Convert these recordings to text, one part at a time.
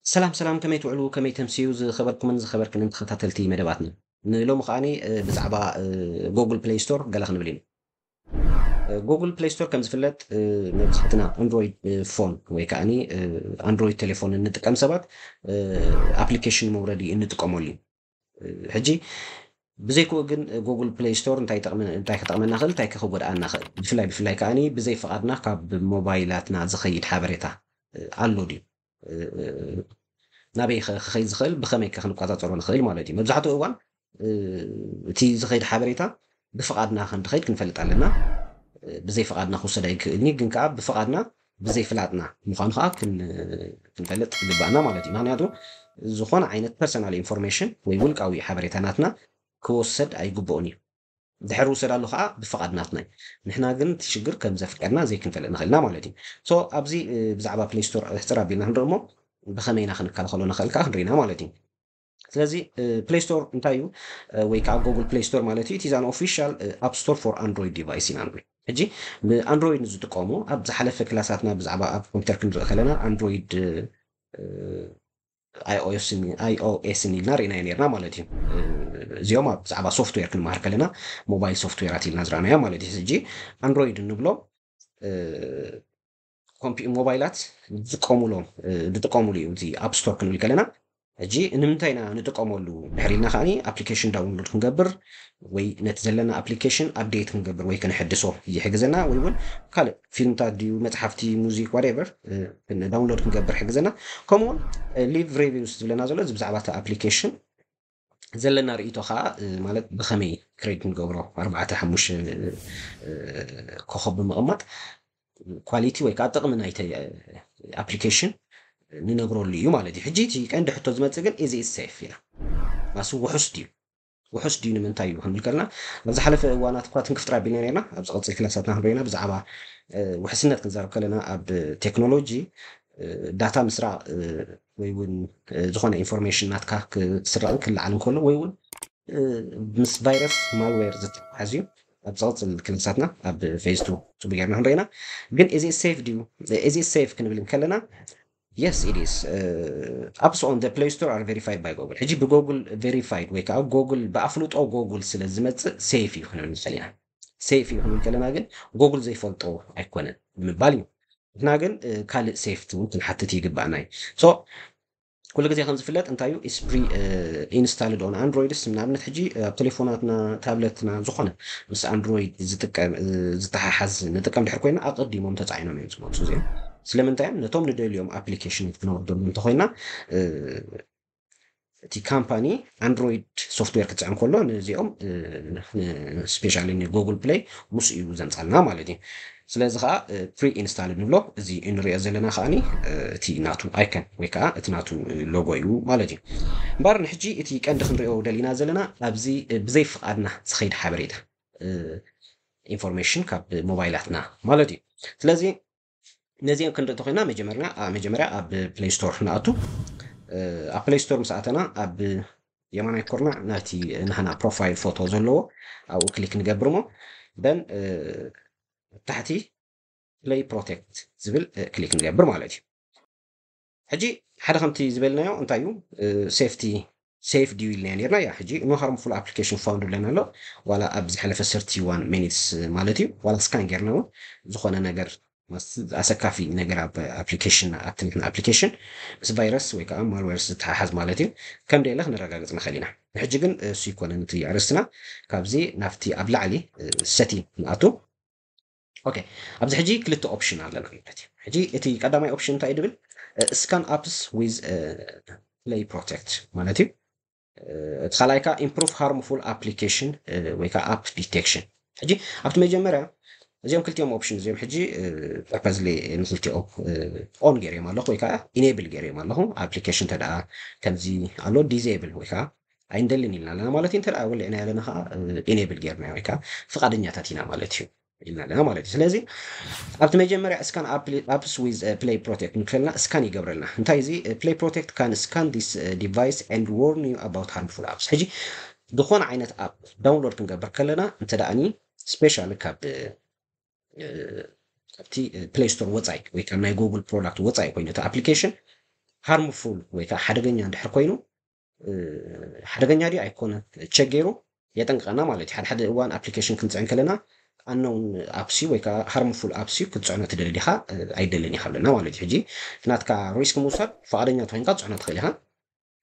ሰላም ሰላም ከመይ ትውዕሉ ከመይ ተምስዩ ዝኸበርኩምን ዝኸበርክንን ተኸታተልቲ መደባትና ንሎሚ ከኣ ብዛዕባ ጎጉል ፕለይ ስቶር ገለ ክንብል ኢና ጎጉል ፕለይ ስቶር ከም ዝፍለጥ መብዛሕትና ኣንድሮይድ ፎን ወይ ከኣ ኣንድሮይድ ቴሌፎን እንጥቀም ሰባት ኣፕሊኬሽን መውረዲ እንጥቀመሉ እዩ ሕጂ ብዘይክኡ ግን ጉግል ፕሌይ ስቶር እንታይ ክጠቕመና ክእል እንታይ ክጎድኣና ክእል ብፍላይ ብፍላይ ከዓኒ ብዘይ ፍቓድና ካብ ሞባይላትና ዝኸይድ ሓበሬታ ኣሎ ድዩ ናበይ ክኸይድ ዝኽእል ብኸመይ ክንቆፃፀሮ ንኽእል ማለት እዩ መብዛሕትኡ እዋን እቲ ዝኸይድ ሓበሬታ ብፍቓድና ከምትኸይድ ክንፈልጥ ኣለና። ብዘይ ፍቓድና ክውሰድ ኣይክእልን እዩ፣ ግን ከኣ ብፍቓድና ብዘይ ፍላጥና ምዃኑ ከኣ ክንፈልጥ ይግበኣና ማለት እዩ። ምክንያቱ ዝኾነ ዓይነት ፐርሰናል ኢንፎርሜሽን ወይ ውልቃዊ ሓበሬታ ናትና ክወሰድ ኣይግበኡን እዩ። ድሕር ውሰዳሉ ከኣ ብፍቓድ ናትና እዩ። ንሕና ግን እቲ ሽግር ከም ዘፍቀድና ዘይክንፈልጥ ንኽእል ኢና ማለት እዩ። So ኣብዚ ብዛዕባ ፕለይ ስቶር ሕጽር ኣቢልና ክንርኢ እሞ ብኸመይ ኢና ክንከላኸሎ ንኽእል ከኣ ክንርኢ ኢና ማለት እዩ። ስለዚ ፕሌይ ስቶር እንታይ እዩ ወይ ከዓ ጎግል ፕሌይ ስቶር ማለት እዩ ኢቲዛን ኦፊሻል ኣፕ ስቶር ፎር ኣንድሮይድ ዲቫይስ ኢና ንብል ሕጂ ብኣንድሮይድ ንዝጥቀሙ ኣብ ዝሓለፈ ክላሳትና ብዛዕባ ኣብ ኮምፒተር ክንርኢ ከለና ኣንድሮይድ ኣይኦኤስን ኢልና ርኢናዮ ነርና ማለት እዩ እዚኦም ኣብ ብዛዕባ ሶፍትዌር ክንመሃር ከለና ሞባይል ሶፍትዌራት ኢልና ዝረኣናዮ ማለት እዩ ሕጂ ኣንድሮይድ እንብሎ ኮምፒ ሞባይላት ዝጥቀሙሎም ዝጥቀሙሉ እዩ እዚ ኣብ ስቶር ክንብል ከለና ሕጂ ንምንታይ ኢና ንጥቀመሉ ድሕሪ ኢልና ከዓኒ ኣፕሊኬሽን ዳውንሎድ ክንገብር ወይ ነቲ ዘለና ኣፕሊኬሽን ኣፕዴት ክንገብር ወይ ክንሕድሶ ይሕግዘና ወይ እውን ካልእ ፊልምታት ድዩ መፅሓፍቲ ሙዚክ ዋትቨር ዳውንሎድ ክንገብር ሕግዘና ከምኡውን ሊቭ ሬቪውስ ዝብለና ዘሎ እዚ ብዛዕባ እቲ ኣፕሊኬሽን ዘለና ርእይቶ ከኣ ማለት ብከመይ ክሬድ ንገብሮ ኣርባዕተ ሓሙሽተ ኮኾብ ብምቕማጥ ኳሊቲ ወይ ከኣ ጥቕሚ ናይቲ ኣፕሊኬሽን ንነብረሉ እዩ ማለት እዩ። ሕጂ እቲ ቀንዲ ሕቶ ዝመጽእ ግን ኢዝ ኢት ሴፍ ኢና ማሱ ውሑስ ድዩ ውሑስ ድዩ ንምንታይ እዩ ክንብል ከለና ኣብ ዝሓለፈ እዋናት እኳ ትንክፍጥር ኣቢልና ነርና ኣብ ዝቐጽል ክላሳትና ክንሪኢና ብዛዕባ ውሕስነት ክንዛረብ ከለና ኣብ ቴክኖሎጂ ዳታ ምስራቕ ወይ እውን ዝኾነ ኢንፎርሜሽን ናትካ ክስረቕን ክለዓል እንከሎ ወይ እውን ምስ ቫይረስ ማልዌር ዝተሓሓዝ እዩ ኣብ ዝቕፅል ክልሳትና ኣብ ፌዝ ቱ ፅቡ ጌርና ክንረኢና ግን እዚ ሴፍ ድዩ እዚ ሴፍ ክንብል እንከለና የስ ኢዲስ ኣፕስ ኦን ፕሌይ ስቶር ኣር ቬሪፋይድ ባይ ጎግል ሕጂ ብጎግል ቬሪፋይድ ወይ ከዓ ጎግል ብኣፍልጦ ጎግል ስለ ዝመፅእ ሴፍ እዩ ክንብል ንኽእል ኢና ሴፍ እዩ ክንብል ከለና ግን ጎግል ዘይፈልጦ ኣይኮነን ንምባል እዩ ንሕና ግን ካልእ ሴፍቲ እውን ክንሓትት ይግባእና እዩ ሶ ኩሉ ግዜ ከም ዝፍለጥ እንታይ እዩ ኢስፕሪ ኢንስታልድ ኦን ኣንድሮይድስ ንኣብነት ሕጂ ኣብ ቴሌፎናትና ታብለትና ዝኾነ ምስ ኣንድሮይድ ዝጥቀም ዝተሓሓዝ ንጥቀም ድሕር ኮይና ኣቐዲሞም ተፃዒኖም እዮም ዝመፁ እዚኦም ስለምንታይ እዮም ነቶም ንደልዮም ኣፕሊኬሽን ክነወርደሉ እንተኮይና እቲ ካምፓኒ ኣንድሮይድ ሶፍትዌር ክትፅዕን ከሎ ንዚኦም ስፔሻሊ ንጎግል ፕሌይ ምስ እዩ ዘምፃልና ማለት እዩ ስለዚ ከዓ ፕሪ ኢንስታል ንብሎ እዚ እንሪኦ ዘለና ከዓ እቲ ናቱ ኣይከን ወይ ከዓ እቲ ናቱ ሎጎ እዩ ማለት እዩ እምበር ንሕጂ እቲ ቀንዲ ክንሪኦ ደሊና ዘለና ኣብዚ ብዘይ ፍቃድና ዝኸይድ ሓበሬታ ኢንፎርሜሽን ካብ ሞባይላትና ማለት እዩ ስለዚ ነዚኤን ክንርኢ እንተኾይና መጀመርና መጀመርያ ኣብ ፕሌይ ስቶር ንኣቱ ኣብ ፕሌይ ስቶር ምስ ኣተና ኣብ የማናይ ኩርናዕ ናይቲ ናህና ፕሮፋይል ፎቶ ዘለዎ ኣብኡ ክሊክ ንገብር እሞ ደን ታሕቲ ፕሌይ ፕሮቴክት ዝብል ክሊክ ንገብር ማለት እዩ ሕጂ ሓደ ከምቲ ዝበልናዮ እንታይ እዩ ሴፍቲ ሴፍ ድዩ ኢልናዮ ኔርና ያ ሕጂ ኖ ሃርምፉል ኣፕሊኬሽን ፋውንድ ኢለና ኣሎ ዋላ ኣብ ዝሓለፈ ሰርቲ ዋን ሚኒትስ ማለት እዩ ዋላ ስካን ጌርና እውን ዝኾነ ነገር ኣሰካፊ ነገር ኣብ ኣፕሊኬሽን ኣብቲ ንሕና ኣፕሊኬሽን ምስ ቫይረስ ወይ ከዓ ማልዌርስ ዝተሓሓዝ ማለት እዩ ከም ደየለ ክነረጋግፅ ንኽእል ኢና ንሕጂ ግን እሱ ይኮነን እቲ ኣርእስትና ካብዚ ናብቲ ኣብ ላዕሊ ሰቲንግ ንኣቱ ኦኬ ኣብዚ ሕጂ ክልተ ኦፕሽን ኣለና ማለት እዩ ሕጂ እቲ ቀዳማይ ኦፕሽን እንታይ ድብል ስካን ኣፕስ ዊዝ ፕሌይ ፕሮቴክት ማለት እዩ እቲ ካልኣይ ከዓ ኢምፕሩቭ ሃርምፉል ኣፕሊኬሽን ወይ ከዓ ኣፕ ዲቴክሽን ሕጂ ኣብቲ መጀመርያ እዚኦም ክልቲኦም ኦፕሽን እዚኦም ሕጂ ፐርፐዝሊ ንክልቲኦ ኦን ገይርዮም ኣለኹ ወይ ከዓ ኢኔብል ገይርዮም ኣለኹ ኣፕሊኬሽን ተደኣ ከምዚ ኣሎ ዲዜብል ወይ ከዓ ኣይንደልን ኢልና ኣለና ማለት እዩ እንተ ወሊዕና ኣለና ከዓ ኢኔብል ጌርና ወይ ከዓ ፍቃደኛታት ኢና ማለት እዩ ኢልና ኣለና ማለት እዩ ስለዚ ኣብቲ መጀመርያ እስካን ኣፕስ ዊዝ ፕሌይ ፕሮቴክት ንክልና እስካን ይገብረልና እንታይ እዚ ፕሌይ ፕሮቴክት ካን ስካን ዲስ ዲቫይስ ኤንድ ዎርን ዩ ኣባውት ሃርምፉል ኣፕስ ሕጂ ዝኾነ ዓይነት ኣፕ ዳውንሎድ ክንገብር ከለና እንተ ደኣኒ ስፔሻሊ ካብ ካብቲ ፕሌይ ስቶር ወፃኢ ወይ ካብ ናይ ጉግል ፕሮዳክት ወፃኢ ኮይኑ እቲ ኣፕሊኬሽን ሃርምፉል ወይ ከዓ ሓደገኛ እንድሕር ኮይኑ ሓደገኛ ድዩ ኣይኮነ ቸክ ገይሩ የጠንቅቀና ማለት እዩ። ሓደ ሓደ እዋን ኣፕሊኬሽን ክንፅዕን ከለና ኣነውን ኣፕሲ ወይ ከዓ ሃርምፉል ኣፕሲ ክትፅዕኖ ትደሊ ዲኻ ኣይደልን ኢኻ ኣለና ማለት እዩ። ሕጂ ናትካ ሪስክ ምውሳድ ፈቃደኛ ተኮይንካ ትፅዕኖ ትኽእል ኢኻ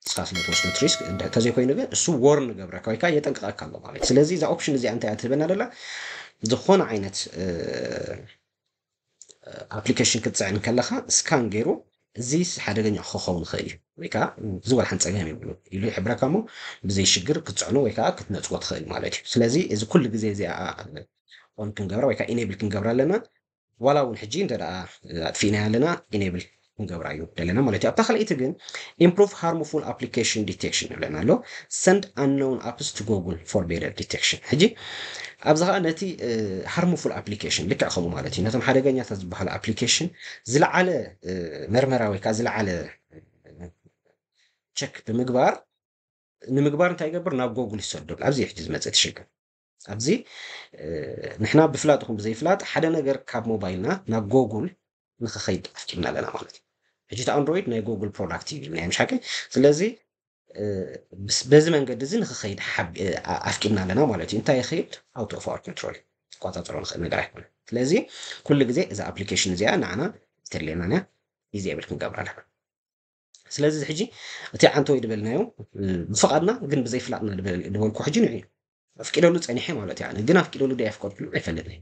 ንስኻ ስለ ትወስዶ እቲ ሪስክ እንተዘይኮይኑ ግን እሱ ወርን ገብረካ ወይ ከዓ የጠንቅቀካ ኣሎ ማለት እዩ። ስለዚ እዛ ኦፕሽን እዚኣ እንታይ እያ ትህበና ደላ ዝኾነ ዓይነት ኣፕሊኬሽን ክትፅዕን ከለኻ ስካን ገይሩ እዚ ሓደገኛ ክኸውን ይኽእል እዩ ወይ ከዓ ዝወርሓን ፀገም ይብሉ ኢሉ ይሕብረካ እሞ ብዘይ ሽግር ክትፅዕኖ ወይ ከዓ ክትነፅጎ ትኽእል ማለት እዩ ስለዚ እዚ ኩሉ ግዜ እዚኣ ኦን ክንገብራ ወይ ከዓ ኢኔብል ክንገብራ ኣለና ዋላ እውን ሕጂ እንተ ኣጥፊእናያ ኣለና ኢኔብል ክንገብራ እዩ ዘለና ማለት እዩ ኣብታ ካልኣይቲ ግን ኢምፕሩቭ ሃርሙፉል ኣፕሊኬሽን ዲቴክሽን ይብለና ኣሎ ሰንድ ኣነውን ኣፕስ ቱ ጎጉል ፎር ቤደር ዲቴክሽን ሕጂ ኣብዚ ከዓ ነቲ ሃርሙፉል ኣፕሊኬሽን ልክዕ ከምኡ ማለት እዩ ነቶም ሓደገኛታት ዝበሃሉ ኣፕሊኬሽን ዝለዓለ መርመራ ወይ ከዓ ዝለዓለ ቸክ ብምግባር ንምግባር እንታይ ይገብር ናብ ጎጉል ይሰደሉ ኣብዚ ሕጂ ዝመፅእ ትሽግር ኣብዚ ንሕና ብፍላጥ ይኹን ብዘይፍላጥ ሓደ ነገር ካብ ሞባይልና ናብ ጎጉል ንክኸይድ ኣፍቂድና ኣለና ማለት እዩ ሕጂ እቲ ኣንድሮይድ ናይ ጎጉል ፕሮዳክት እዩ ኢልናዮም ሻቂ ስለዚ በዚ መንገዲ እዚ ንክኸይድ ኣፍቂድና ኣለና ማለት እዩ እንታይ ይኸይድ ኣውቶ ኦፍ ኣወር ኮንትሮል ክቆፃፀሮ ንኽእል ነገር ኣይኮነ ስለዚ ኩሉ ግዜ እዛ ኣፕሊኬሽን እዚኣ ንዓና ዝተድልየና እያ ዲዝብል ክንገብራ ኣለና ስለዚ እዚ ሕጂ እቲ ዓንተወይ ዝበልናዮ ብፍቓድና ግን ብዘይፍላጥና ዝበልኩ ሕጂ ንዑ ኣፍቂደሉ ፀኒሐ ማለት እዩ ኣነ ግን ኣፍቂደሉ ዶ ኣፍቀድኩሉ ኣይፈልጥን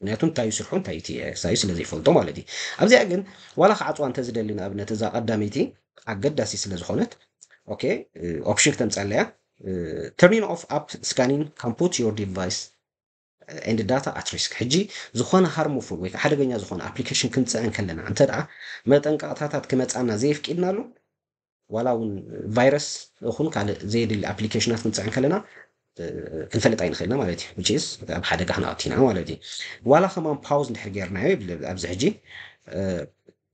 ምክንያቱ እንታይ እዩ ስርሑ እንታይ እዩ ሳዩ ስለ ዘይፈልጦ ማለት እዩ ኣብዚኣ ግን ዋላ ክዓፅዋ እንተዝደሊ ንኣብነት እዛ ቀዳመይቲ ኣገዳሲ ስለ ዝኾነት ኦኬ ኦፕሽን ክተምፀለያ ተርኒን ኦፍ ኣፕ ስካኒን ካን ፑት ዮር ዲቫይስ and data at risk ሕጂ ዝኾነ ሃርሙፉል ወይ ከኣ ሓደገኛ ዝኾነ ኣፕሊኬሽን ክንጽዕን ከለና እንተድኣ መጠንቀቕታታት ክመጽኣና ዘየፍቂድናሉ ዋላ እውን ቫይረስ እኹን ካልእ ዘየድሊ ኣፕሊኬሽናት ክንጽዕን ከለና ክንፈልጥ ኣይንኽእልና ማለት እዩ which is ኣብ ሓደጋ ክነኣቲና ማለት እዩ ዋላ ከማን ፓውዝ እንድሕር ጌርናዮ ይብል ኣብዚ ሕጂ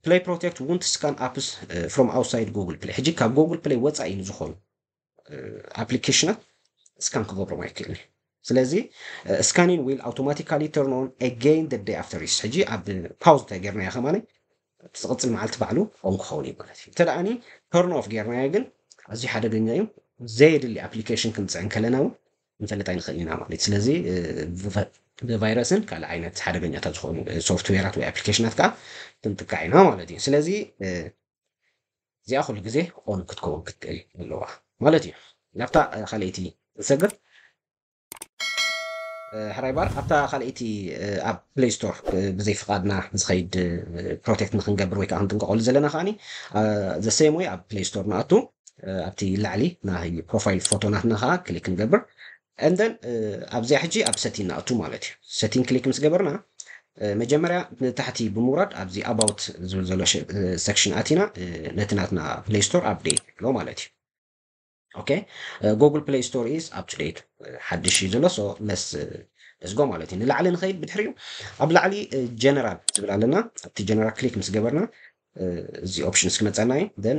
ፕሌይ ፕሮቴክት ውንት ስካን ኣፕስ ፍሮም ኣውትሳይድ ጉግል ፕሌይ ሕጂ ካብ ጉግል ፕሌይ ወጻኢ ንዝኾኑ ኣፕሊኬሽናት እስካን ክገብሮም ኣይክእልን ስለዚ ስካኒን ዊል ኣውቶማቲካሊ ተርኖን ኤገይን ደ ደይ ኣፍተር ዩስ ሕጂ ኣብ ፓውዝ እንታይ ጌርናዮ ከማኒ ዝቕፅል መዓልቲ ባዕሉ ኦን ክኸውን እዩ ማለት እዩ እንተደኣኒ ተርን ኦፍ ጌርናዮ ግን ኣዝዩ ሓደገኛ እዩ ዘየድሊ ኣፕሊኬሽን ክንፅዕን ከለና እውን ንፈልጥ ኣይንኽእል ኢና ማለት ስለዚ ብቫይረስን ካልእ ዓይነት ሓደገኛታት ዝኾኑ ሶፍትዌራት ወይ ኣፕሊኬሽናት ከዓ ክንጥቃዕ ኢና ማለት እዩ ስለዚ እዚኣ ኩሉ ግዜ ኦን ክትከውን ክትክእል ኣለዋ ማለት እዩ ናብታ ካልኣይቲ ንሰግር። ሕራይ ባር ኣብታ ካልኣይቲ ኣብ ፕሌይ ስቶር ብዘይ ፍቃድና ዝኸይድ ፕሮቴክት ንክንገብር ወይ ከዓ ክንጥንቀቀሉ ዘለና ከዓኒ ዘሰየም ወይ ኣብ ፕሌይ ስቶር ንኣቱ ኣብቲ ላዕሊ ናይ ፕሮፋይል ፎቶናትና ከዓ ክሊክ ንገብር and then ኣብዚኣ ሕጂ ኣብ ሰቲን ንኣቱ ማለት እዩ ሰቲን ክሊክ ምስ ገበርና መጀመርያ ንታሕቲ ብምውራድ ኣብዚ about ዝብል ዘሎ ሰክሽን ኣቲና ነቲ ናትና ፕሌይ ስቶር ኣብዴት ንብሎ ማለት እዩ ኦኬ ጎግል ፕሌይ ስቶር ኢዝ ኣፕ ቱ ዴት ሓድሽ እዩ ዘሎ ሶ ለስ ለስጎ ማለት እዩ ንላዕሊ ንኸይድ ብድሕሪኡ ኣብ ላዕሊ ጀነራል ዝብል ኣለና ኣብቲ ጀነራል ክሊክ ምስ ገበርና እዚ ኦፕሽንስ ክመፀና እዩ ን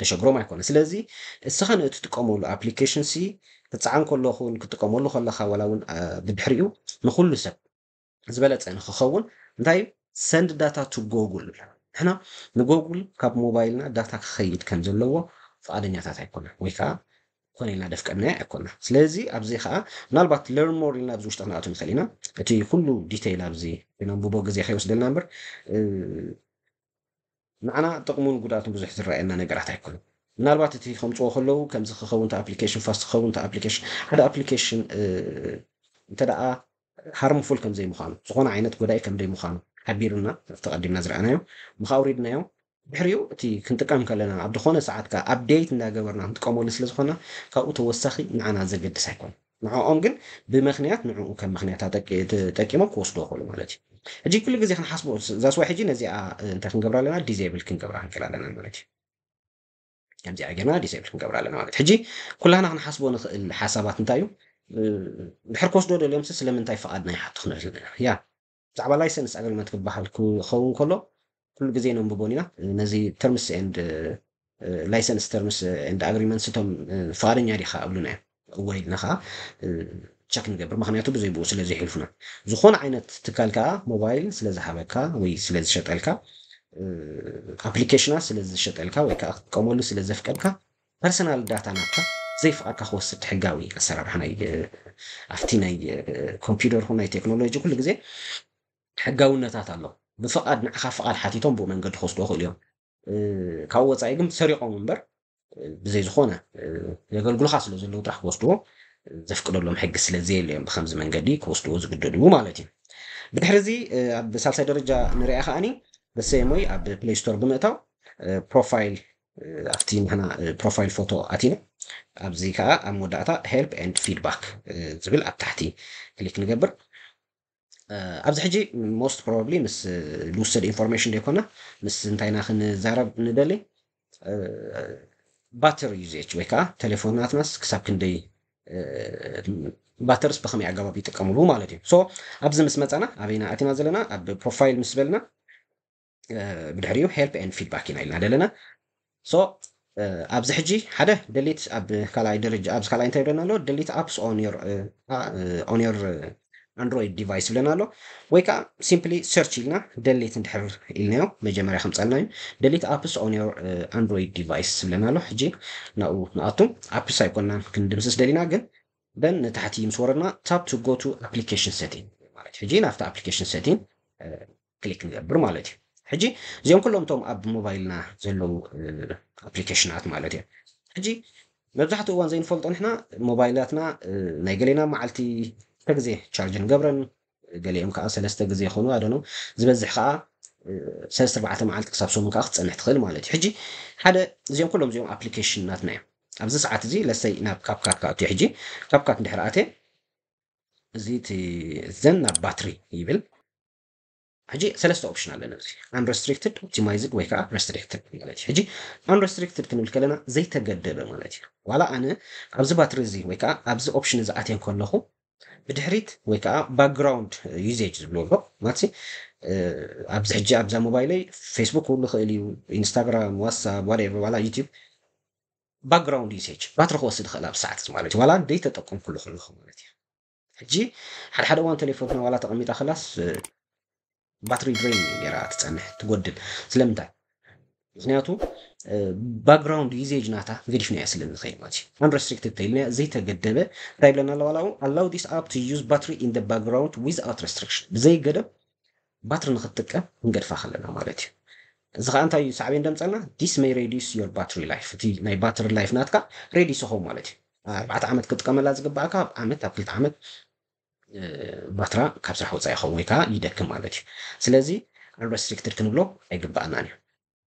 ደሸግሮም ኣይኮነን ስለዚ እስኻ ንእትጥቀመሉ ኣፕሊኬሽን ሲ ክጸዓን ከለኹ ክትጥቀመሉ ከለኻ ዋላ እውን ብድሕሪኡ ንኹሉ ሰብ ዝበለጸ ንክኸውን እንታይ እዩ ሰንድ ዳታ ቱ ጎጉል ንሕና ንጎጉል ካብ ሞባይልና ዳታ ክኸይድ ከም ዘለዎ ፍቓደኛታት ኣይኮና ወይ ከዓ ኮነ ኢልና ደፍቀናያ ኣይኮና ስለዚ ኣብዚ ከዓ ምናልባት ለርን ሞር ኢልና ኣብዚ ውሽጢ ክንኣቱ ንኽእል ኢና እቲ ኩሉ ዲተይል ኣብዚ ነንብቦ ግዜ ከይወስደልና እምበር ንዓና ጥቕሙን ጉድኣቱን ብዙሕ ዝረኣየና ነገራት ኣይኮነን። ምናልባት እቲ ከምጽዎ ከለዉ ከምዚ ክኸውን እቲ ኣፕሊኬሽን ፋስት ክኸውን እቲ ኣፕሊኬሽን ሓደ ኣፕሊኬሽን እንተደኣ ሃርምፉል ከም ዘይምዃኑ ዝኾነ ዓይነት ጎዳኢ ከም ዘይምዃኑ ሓቢሩና ተቐዲምና ዝረኣናዮ ምኽ ኣውሪድናዮ ድሕሪኡ እቲ ክንጥቀም ከለና ኣብ ዝኾነ ሰዓት ከኣ ኣፕዴት እንዳገበርና ክንጥቀመሉ ስለ ዝኾና ካብኡ ተወሳኺ ንዓና ዘገድስ ኣይኮነን። ንዕኦም ግን ብምኽንያት ንዕኡ ከም ምኽንያት ኣጠቂ ተጠቂሞም ክወስድዎ ይኽእሉ ማለት እዩ። ሕጂ ኩሉ ግዜ ክንሓስቦ እዛ ስዋይ ሕጂ ነዚኣ እንታይ ክንገብራ ኣለና ዲዘብል ክንገብራ ክንክእል ኣለና ማለት እዩ። ከምዚኣ ጌርና ዲዘብል ክንገብራ ኣለና ማለት ሕጂ ኩላህና ክንሓስቦ ንኽእል ሓሳባት እንታይ እዩ ድሕር ክወስድዎ ደልዮምሲ ስለምንታይ ፍቓድና ይሓቱ ክንብል ንኽእል ኢና ያ ብዛዕባ ላይሰንስ ኣገልመት ክበሃል ክኸውን ከሎ ኩሉ ግዜ ነንብቦን ኢና ነዚ ተርምስ ኤንድ ላይሰንስ ተርምስ ኤንድ ኣግሪመንትስ እቶም ፍቓደኛ ዲኻ እብሉና እዮም እወ ኢልና ከዓ ቸክ ንገብር ምክንያቱ ብዘይ ብኡ ስለ ዘይሕልፉና ዝኾነ ዓይነት ትካል ከዓ ሞባይል ስለ ዝሃበካ ወይ ስለ ዝሸጠልካ ኣፕሊኬሽናት ስለ ዝሸጠልካ ወይ ከዓ ክትጥቀመሉ ስለ ዘፍቀድካ ፐርሰናል ዳታ ናትካ ዘይፍቃድካ ክወስድ ሕጋዊ ኣሰራርሓ ናይ ኣፍቲ ናይ ኮምፒደር ይኩን ናይ ቴክኖሎጂ ኩሉ ግዜ ሕጋውነታት ኣሎ ብፍቃድ ንዓካ ፍቃድ ሓቲቶም ብኡ መንገዲ ክወስድዎ ይክእሉ እዮም ካብኡ ወጻኢ ግን ሰሪቆም እምበር ብዘይ ዝኮነ የገልግሉካ ስለ ዘለዉ ጥራሕ ክወስድዎ ዘፍቅደሎም ሕጊ ስለ ዘየለ እዮም ብከምዚ መንገዲ ክወስድዎ ዝግደዱ ማለት እዩ ብድሕሪ እዚ ኣብ ሳልሳይ ደረጃ ንሪኣ ከኣኒ በሰየሞይ ኣብ ፕሌይ ስቶር ብምእታው ፕሮፋይል ኣብቲ ንሕና ፕሮፋይል ፎቶ ኣቲና ኣብዚ ከዓ ኣብ መወዳእታ ሄልፕ ኤንድ ፊድባክ ዝብል ኣብ ታሕቲ ክሊክ ንገብር ኣብዚ ሕጂ ሞስት ፕሮባብሊ ምስ ልውሰድ ኢንፎርሜሽን ዘይኮና ምስ እንታይ ኢና ክንዛረብ ንደሊ ባትሪ ዩዜች ወይ ከዓ ቴሌፎናትናስ ክሳብ ክንደይ ባተርስ ብከመይ ኣገባብ ይጥቀምሉ ማለት እዩ ሶ ኣብዚ ምስ መፃና ኣበይና ኣቲና ዘለና ኣብ ፕሮፋይል ምስ በልና ብድሕሪኡ ሄልፕ ኤንድ ፊድባክ ኢና ኢልና ዘለና ሶ ኣብዚ ሕጂ ሓደ ደሊት ኣብ ካልኣይ ደረጃ ኣብዚ ካልኣይ እንታይ ይብለና ኣሎ ደሊት ኣፕስ ኦን ዮር ኦን ዮር ኣንድሮይድ ዲቫይስ ይብለና ኣሎ ወይ ከዓ ሲምፕሊ ሰርች ኢልና ደሊት እንድሕር ኢልናዮ መጀመርያ ከምፀልና እዩ ደሊት ኣፕስ ኦን ዮር ኣንድሮይድ ዲቫይስ ይብለና ኣሎ ሕጂ ናብኡ ንኣቱ ኣፕስ ኣይኮንና ክንድምስስ ደሊና ግን ደን ንታሕቲ ምስ ወረድና ታፕ ቱ ጎ ቱ ኣፕሊኬሽን ሴቲንግ ማለት ሕጂ ናብቲ ኣፕሊኬሽን ሴቲንግ ክሊክ ንገብር ማለት እዩ ሕጂ እዚኦም ኩሎም እቶም ኣብ ሞባይልና ዘለዉ ኣፕሊኬሽናት ማለት እዮም ሕጂ መብዛሕትኡ እዋን ዘይንፈልጦ ንሕና ሞባይላትና ናይ ገሌና መዓልቲ ክልተ ግዜ ቻርጅ ንገብረን ገሊኦም ከዓ ሰለስተ ግዜ ይኾኑ ኣደኖ ዝበዝሕ ከዓ ሰለስተ ኣርባዕተ መዓልቲ ክሳብ ሰሙን ከዓ ክትፀንሕ ትኽእል ማለት እዩ ሕጂ ሓደ እዚኦም ኩሎም እዚኦም ኣፕሊኬሽናትና እዮም ኣብዚ ሰዓት እዚ ለሰይ ናብ ካብካት ክኣቱ ሕጂ ካብካት እንድሕር ኣትየ እዚ ዘን ናብ ባትሪ ይብል ሕጂ ሰለስተ ኦፕሽን ኣለና ኣብዚ Unrestricted፣ Optimized ወይ ከኣ Restricted ማለት እዩ። ሕጂ Unrestricted ክንብል ከለና ዘይተገደበ ማለት እዩ። ዋላ ኣነ ኣብዚ ባትሪ እዚ ወይ ከኣ ኣብዚ ኦፕሽን እዚ ኣትየ ከለኹ ብድሕሪት ወይ ከኣ ባክግራውንድ ዩዜጅ ዝብልዎ ኣሎ ማለትሲ ኣብዚ ሕጂ ኣብዛ ሞባይለይ ፌስቡክ ክህሉ ይኽእል እዩ፣ ኢንስታግራም፣ ዋትሳፕ፣ ዋትኤቨር ዋላ ዩቲዩብ ባክግራውንድ ዩሴጅ ባትሪ ክወስድ ይኽእል ኣብ ሰዓት እዚ ማለት እዩ። ዋላ ዘይተጠቀምኩሉ ከለኹ ማለት እዩ። ሕጂ ሓደ ሓደ እዋን ተሌፎንክና ዋላ ተቀሚጣ ከላስ ባትሪ ድረይን እዩ ጌራ ትጸንሕ ትጎድል ስለምንታይ ምክንያቱ ባክግራውንድ ዩዜጅ ናታ ገዲፍናዮ ስለ ንኸይድ ማለት እዩ አንረስትሪክትድ ተይልናያ ዘይተገደበ እንታይ ይብለና ኣለዋ ኣላው ዲስ ኣፕ ቱ ዩዝ ባትሪ ኢን ደ ባክግራውንድ ዊዝ ኣውት ረስትሪክሽን ብዘይ ገደብ ባትሪ ንኽትጥቀም ክንገድፋ ከለና ማለት እዩ። እዚ ኸኣ እንታይ እዩ ሳዕቤን ደምጸልና this may reduce your battery life እቲ ናይ ባትሪ ላይፍ ናትካ ሬዲስ ይኸውን ማለት እዩ። ኣርባዕተ ዓመት ክትጥቀመላ ዝግብኣካ ኣብ ዓመት ኣብ ክልተ ዓመት ባትራ ካብ ስራሕ ወጻኢ ይኸውን ወይ ከኣ ይደክም ማለት እዩ። ስለዚ unrestricted ክንብሎ ኣይግብኣናን እዩ።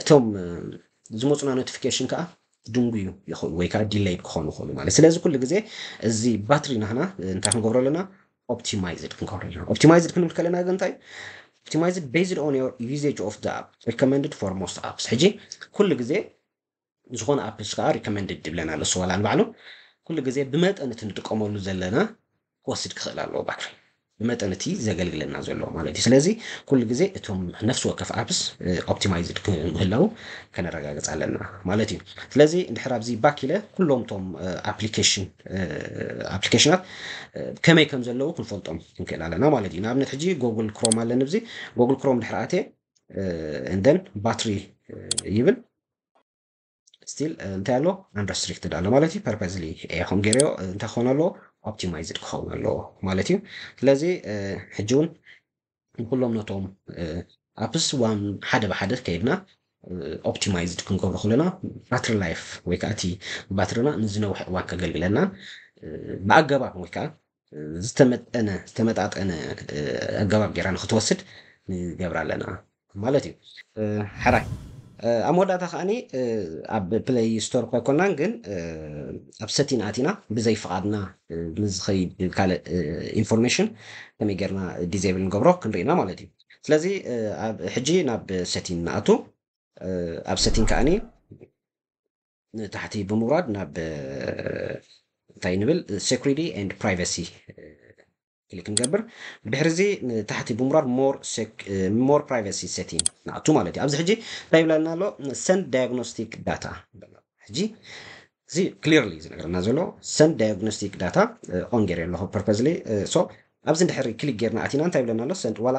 እቶም ዝመፁና ኖቲፊኬሽን ከዓ ድንጉዩ ይኽእሉ ወይ ከዓ ዲለይድ ክኾኑ ይኽእሉ ማለት ስለዚ ኩሉ ግዜ እዚ ባትሪ ናህና እንታይ ክንገብሮ ኣለና ኦፕቲማይዝድ ክንገብሮ ኣለና ኦፕቲማይዝድ ክንብል ከለና ግን እንታይ ኦፕቲማይዝድ ቤዝድ ኦን ዮር ዩዜጅ ኦፍ ዳ ኣፕ ሪኮመንድድ ፎር ሞስት ኣፕስ ሕጂ ኩሉ ግዜ ዝኾነ ኣፕስ ከኣ ሪከመንድድ ይብለና ኣሎ እሱ ዋላ ንባዕሉ ኩሉ ግዜ ብመጠን እቲ ንጥቀመሉ ዘለና ክወስድ ክኽእል ኣለዎ ባትሪ ብመጠን እቲ ዘገልግለና ዘሎ ማለት እዩ ስለዚ ኩሉ ግዜ እቶም ነፍሲ ወከፍ ኣፕስ ኦፕቲማይዝድ ክምህላው ከነረጋግጽ ኣለና ማለት እዩ ስለዚ እንድሕር ኣብዚ ባክ ኢለ ኩሎም እቶም ኣፕሊኬሽን ኣፕሊኬሽናት ከመይ ከም ዘለዉ ክንፈልጦም ክንክእል ኣለና ማለት እዩ ንኣብነት ሕጂ ጎግል ክሮም ኣለኒ ብዚ ጎግል ክሮም ድሕር ኣትየ እንደን ባትሪ ይብል ስቲል እንታይ ኣሎ ኣንረስትሪክትድ ኣሎ ማለት እዩ ፐርፐዝሊ ይኹን ገይረዮ እንታይ ክኸውን ኣለዎ ኦፕቲማይዝድ ክኸውን ኣለዎ ማለት እዩ ስለዚ ሕጂ እውን ንኩሎም ነቶም ኣፕስ ዋን ሓደ ብሓደ ከይድና ኦፕቲማይዝድ ክንገብሮ ከለና ባትሪ ላይፍ ወይ ከዓ እቲ ባትሪና ንዝነውሐ እዋን ከገልግለናን ብኣገባብ ወይ ከዓ ዝተመጠነ ዝተመጣጠነ ኣገባብ ጌራ ንኽትወስድ ንገብራ ኣለና ማለት እዩ። ሕራይ ኣብ መወዳእታ ከኣኒ ኣብ ፕለይ ስቶር እኳ ኣይኮናን ግን ኣብ ሰቲን ኣቲና ብዘይ ፍቓድና ንዝኸይድ ካልእ ኢንፎርሜሽን ከመይ ጌርና ዲዘብል ንገብሮ ክንርኢ ኢና ማለት እዩ። ስለዚ ኣብ ሕጂ ናብ ሰቲን ንኣቱ ኣብ ሰቲን ከኣኒ ንታሕቲ ብምውራድ ናብ እንታይ ንብል security and privacy ክሊክ ንገብር ብድሕሪ እዚ ንታሕቲ ብምውራድ more privacy setting ንኣቱ ማለት እዩ ኣብዚ ሕጂ እንታይ ይብለና ኣሎ send diagnostic data ሕጂ እዚ ክሊርሊ ዝነገረና ዘሎ ሰንድ ዳያግኖስቲክ ዳታ ኦን ገይረ ኣለኹ ፐርፐዝሊ ሶ ኣብዚ እንድሕሪ ክሊክ ጌርና ኣቲና እንታይ ይብለና ኣሎ ሰንድ ዋላ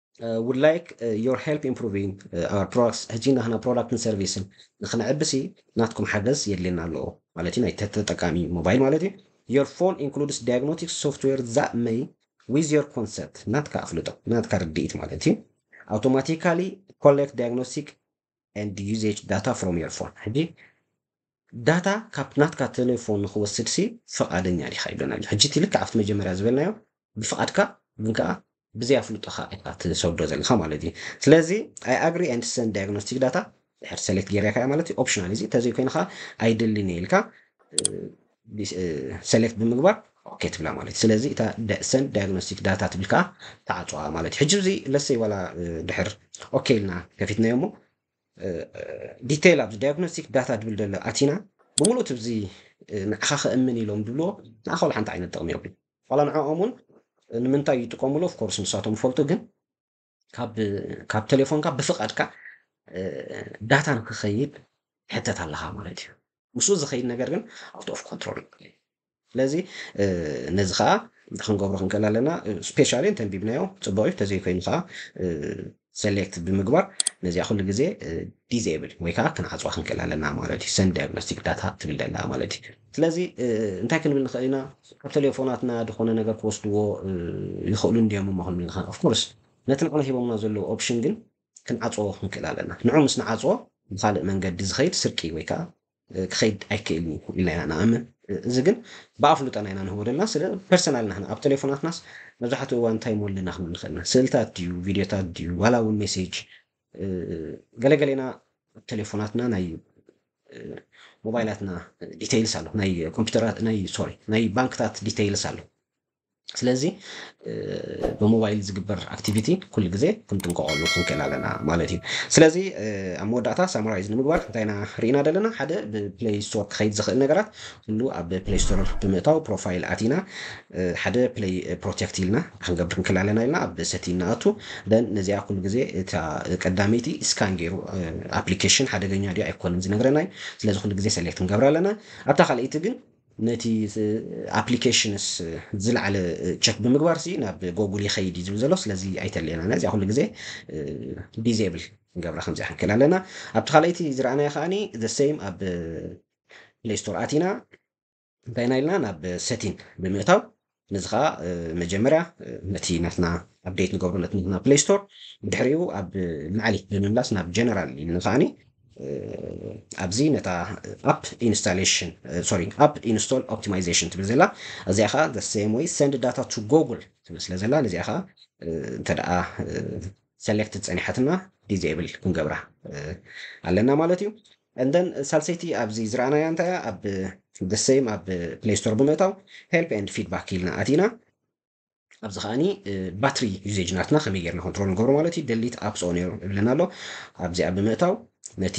ውድ ላይክ ዮር ሄልፕ ኢን ኢምፕሩቪንግ ኣወር ፕሮዳክትስ ሕጂ ናህና ፕሮዳክትን ሰርቪስን ንክንዕብሲ ናትኩም ሓገዝ የድልየና ኣሎ ማለት እዩ ናይ ተጠቃሚ ሞባይል ማለት እዩ ዮር ፎን ኢንክሉድስ ዳያግኖቲክስ ሶፍትዌር ዛት መይ ዊዝ ዮር ኮንሰንት ናትካ ኣፍልጦ ናትካ ርድኢት ማለት እዩ ኣውቶማቲካሊ ኮሌክት ዳያግኖስቲክ and usage data from your phone ሕጂ ዳታ ካብ ናትካ ቴሌፎን ንኽወስድ ሲ ፍቓደኛ ዲኻ ይብለና ኣሎ ሕጂ እቲ ልክዕ ኣብቲ መጀመርያ ዝበልናዮ ብፍቓድካ ግን ከኣ ብዘይ ኣፍልጦኻ ኢኻ ትሰዶ ዘለኻ ማለት እዩ ስለዚ ኣይ ኣግሪ ኤንድ ሰንድ ዳያግኖስቲክ ዳታ ድሕር ሰሌክት ጌርካ ማለት እዩ ኦፕሽናል እዚ ተዘይኮይኑ ከኣ ኣይደልን እየ ኢልካ ሰሌክት ብምግባር ኦኬ ትብላ ማለት እዩ ስለዚ እታ ሰንድ ዳያግኖስቲክ ዳታ ትብል ከዓ ተዓፅዋ ማለት እዩ ሕጂ እዚ ለሰይ ዋላ ድሕር ኦኬ ኢልና ከፊትናዮ እሞ ዲቴይል ኣብዚ ዳያግኖስቲክ ዳታ ድብል ደሎ ኣቲና ብምሉእ ትብዚ ንዓኻ ከእምን ኢሎም ድብልዎ ንዓኻ ዋላ ሓንቲ ዓይነት ጥቕሚ የብሉ ዋላ ንዕኦም እውን ንምንታይ ይጥቀሙሉ ኦፍኮርስ ንሳቶም ይፈልጡ ግን ካብ ቴሌፎንካ ብፍቃድካ ዳታ ንክኸይድ ትሕተት ኣለኻ ማለት እዩ ምስኡ ዝኸይድ ነገር ግን ኣውት ኦፍ ኮንትሮል እዩ ስለዚ ነዚ ከዓ ክንገብሮ ክንክእል ኣለና ስፔሻሊ እንተንቢብናዮ ፅቡቅ እዩ ተዘይኮይኑ ከዓ ሰሌክት ብምግባር ነዚኣ ኩሉ ግዜ ዲዜብል ወይ ከዓ ክንዓፅዋ ክንክእል ኣለና ማለት እዩ ሰን ዲያግኖስቲክ ዳታ ትብል ደላ ማለት እዩ ስለዚ እንታይ ክንብል ንኽእል ኢና? ካብ ተሌፎናትና ድኾነ ነገር ክወስድዎ ይኽእሉ እንድዮም እሞ ክንብል ንኽእል። Of course ነቲ ንዕና ሂቦምና ዘለዉ ኦፕሽን ግን ክንዓጽዎ ክንክእል ኣለና። ንዑ ምስ ንዓጽዎ ብኻልእ መንገዲ ዝኸይድ ስርቂ ወይ ከኣ ክኸይድ ኣይክእልን እዩ ኢልና ኢና ንኣምን። እዚ ግን ብኣፍልጦና ኢና ንህቦ ዘለና። ስለ ፐርሰናል ናህና ኣብ ተሌፎናትናስ መብዛሕትኡ እዋን እንታይ እሞ ኣለና ክንብል ንኽእል ኢና? ስእልታት ድዩ፣ ቪድዮታት ድዩ፣ ዋላ እውን ሜሴጅ ገለ ገሌና ተሌፎናትና ናይ ሞባይላትና ዲቴይልስ ኣሎ ናይ ኮምፒውተራት ናይ ሶሪ ናይ ባንክታት ዲቴይልስ ኣሎ ስለዚ ብሞባይል ዝግበር ኣክቲቪቲ ኩሉ ግዜ ክንጥንቀቐሉ ክንክእል ኣለና ማለት እዩ ስለዚ ኣብ መወዳእታ ሳማራይዝ ንምግባር እንታይ ኢና ርኢና ዘለና ሓደ ብፕሌይ ስቶር ክኸይድ ዝኽእል ነገራት ኩሉ ኣብ ፕሌይ ስቶር ብምእታው ፕሮፋይል ኣቲና ሓደ ፕለይ ፕሮቴክት ኢልና ክንገብር ንክእል ኣለና ኢልና ኣብ ሰቲን ንኣቱ ደን ነዚኣ ኩሉ ግዜ እታ ቀዳመይቲ ስካን ጌሩ ኣፕሊኬሽን ሓደገኛ ድዩ ኣይኮነን ዝነግረና እዩ ስለዚ ኩሉ ግዜ ሰሌክት ክንገብራ ኣለና ኣብታ ካልኣይቲ ግን ነቲ ኣፕሊኬሽንስ ዝለዓለ ቸክ ብምግባር ሲ ናብ ጎጉል ይኸይድ እዩ ዝብል ዘሎ ስለዚ ኣይተልየና ነዚኣ ኩሉ ግዜ ዲዜብል ክንገብራ ከምዚኣ ክንክእል ኣለና ኣብቲ ካልኣይቲ ዝረኣናዮ ከዓኒ ዘ ሴም ኣብ ፕሌይ ስቶር ኣቲና እንታይ ኢና ኢልና ናብ ሰቲን ብምእታው ነዚ ከዓ መጀመርያ ነቲ ናትና ኣብዴት ንገብሮ ነቲ ናትና ፕሌይ ስቶር ድሕሪኡ ኣብ ማዕሊ ብምምላስ ናብ ጀነራል ኢልና ከዓኒ ኣብዚ ነታ ኣፕ ኢንስታሌሽን ሶሪ ኣፕ ኢንስቶል ኦፕቲማይዜሽን ትብል ዘላ እዚኣ ከዓ ዘ ሴም ወይ ሰንድ ዳታ ቱ ጎግል ትብል ስለ ዘላ ነዚኣ ከዓ እንተደኣ ሰሌክት ጸኒሓትና ዲዜብል ክንገብራ ኣለና ማለት እዩ And then ሳልሰይቲ ኣብዚ ዝረኣናያ እንታይ እያ ኣብ the same ኣብ play store ብምእታው help and feedback ኢልና ኣቲና ኣብዚ ከኣኒ ባትሪ ዩዜጅ ናትና ከመይ ጌርና ኮንትሮል ንገብሮ ማለት እዩ ደሊት ኣፕስ ኦ ነይሩ ይብለና ኣሎ ኣብዚኣ ብምእታው ነቲ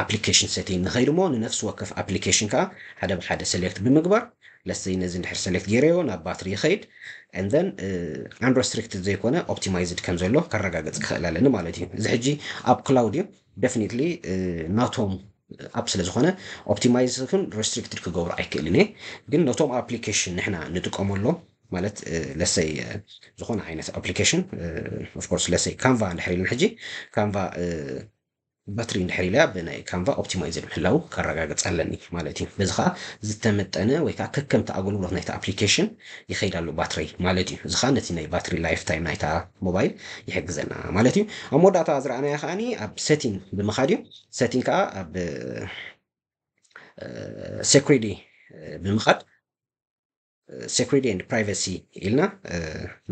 ኣፕሊኬሽን ሰቲን ንኸይድ እሞ ንነፍሲ ወከፍ ኣፕሊኬሽን ከዓ ሓደ ብሓደ ሰሌክት ብምግባር ለሰይ ነዚ እንድሕር ሰሌክት ገይረዮ ናብ ባትሪ ይኸይድ እንደን ኣንረስትሪክትድ ዘይኮነ ኦፕቲማይዝድ ከም ዘሎ ከረጋገፅ ክኽእል ኣለኒ ማለት እዩ እዚ ሕጂ ኣብ ክላውድ እዩ ደፍኒትሊ ናቶም ኣፕ ስለ ዝኾነ ኦፕቲማይዝ ይኹን ረስትሪክትድ ክገብሮ ኣይክእልን እየ ግን ነቶም ኣፕሊኬሽን ንሕና ንጥቀመሎም ማለት ለሰይ ዝኾነ ዓይነት ኣፕሊኬሽን ኦፍኮርስ ለሰይ ካንቫ እንድሕር ኢለን ሕጂ ካንቫ ባትሪ እንድሕር ኢለያ ብናይ ካንቫ ኦፕቲማይዝድ ምህላው ከረጋግፅ ኣለኒ ማለት እዩ በዚ ከዓ ዝተመጠነ ወይ ከዓ ከከምቲ ኣገልግሎት ናይቲ ኣፕሊኬሽን ይኸይድ ኣሎ ባትረይ ማለት እዩ። እዚ ከኣ ነቲ ናይ ባትሪ ላይፍ ታይም ናይታ ሞባይል ይሕግዘና ማለት እዩ። ኣብ መወዳእታ ዝረኣናዮ ከኣ ኣብ ሰቲንግ ብምኻድ እዩ። ሰቲንግ ከኣ ኣብ ሴኩሪዲ ብምኻድ ሴኩሪዲ ኤንድ ፕራይቨሲ ኢልና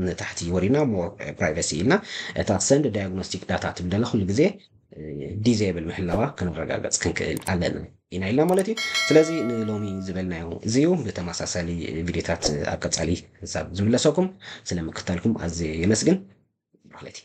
ንታሕቲ ወሪድና ሞር ፕራይቨሲ ኢልና እታ ሰንድ ዳያግኖስቲክ ዳታ ትብል ኩሉ ግዜ ዲዘብል ምህላዋ ክንረጋገጽ ክንክእል ኣለና። ኢና ኢልና ማለት እዩ ስለዚ ንሎሚ ዝበልናዮ እዚ እዩ ብተማሳሳሊ ቪድዮታት ኣብ ቀጻሊ ክሳብ ዝምለሰኩም ስለ ምክታልኩም ኣዝየ የመስግን ማለት እዩ።